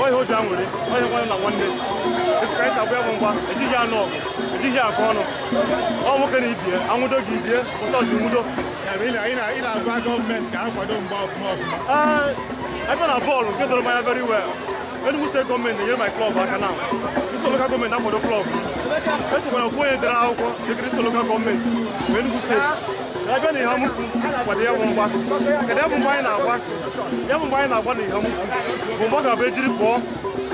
ohe obi anwụrị onye nwanne na nwanne etu ka anyị si agba ya bụ mgba ejighị anụ ọgụ ejighị akọ ọnụ ọ nwoke na ibie anwụdo gị ibie ụbọchị nwudo ị na-agwa gọọmenti ka ha kwado mgba ọfụma ọfụma ee ebe na bọọlụ nke doro m anya very well Enugu steeti gọọmenti na-enyere my klọb aka na isi ụzọ lokal gọọmenti akwado klọb esokwa na ofu onye dere akwụkwọ dịkịrị isi ụzọ lokal gọọmenti ma Enugu steeti abịa na eha amufu kwado ya bụ mgba kwado ya bụ mgba anyị na-agba ya bụ mgba anyị na-agba na eha amufu bụ mgba ọ ga-abụ ejiri pụọ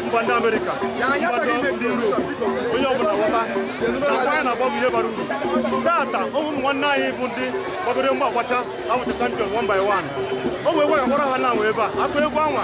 mba ndị amerịka mba ndị yurop onye ọbụla ghọta na mgba anyị na-agba bụ ihe bara uru tata ụmụ nwanne anyị bụ ndị gbagoro mgba agbacha abụcha champion one by one o wee gwagakwara ha na anwa ebe a akụ egwu anwa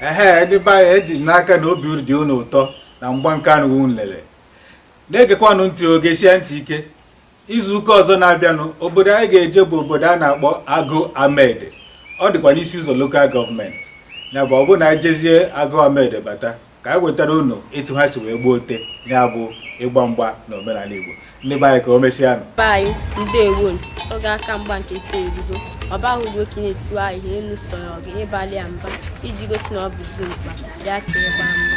ehe ndị be anyị eji m n'aka na obi dị unu ụtọ na mgba nke a unu lele na-egekwanụ ntị o gesie ntị ike izuụka ọzọ na-abịanụ obodo anyị ga-eje bụ obodo a na-akpọ agụ amede ọ dịkwa n'isi ụzọ lokal gọọmenti nya bụ ọ bụ na e jezie agụ amede bata ka anyị wetara unu etu ha si wee gbuo ote ya bụ ịgba mgba na omenala igbo ndị be anyị ka o mesịanụ be anyị ndewo oge a ka mgba nke ite erugo ọ baghị ugbo ka ị na-etiwe anyị ihe elu sọrọ gị ịbalị ya mba iji gosi na ọ bụ dimkpa ya ka ịgba mgba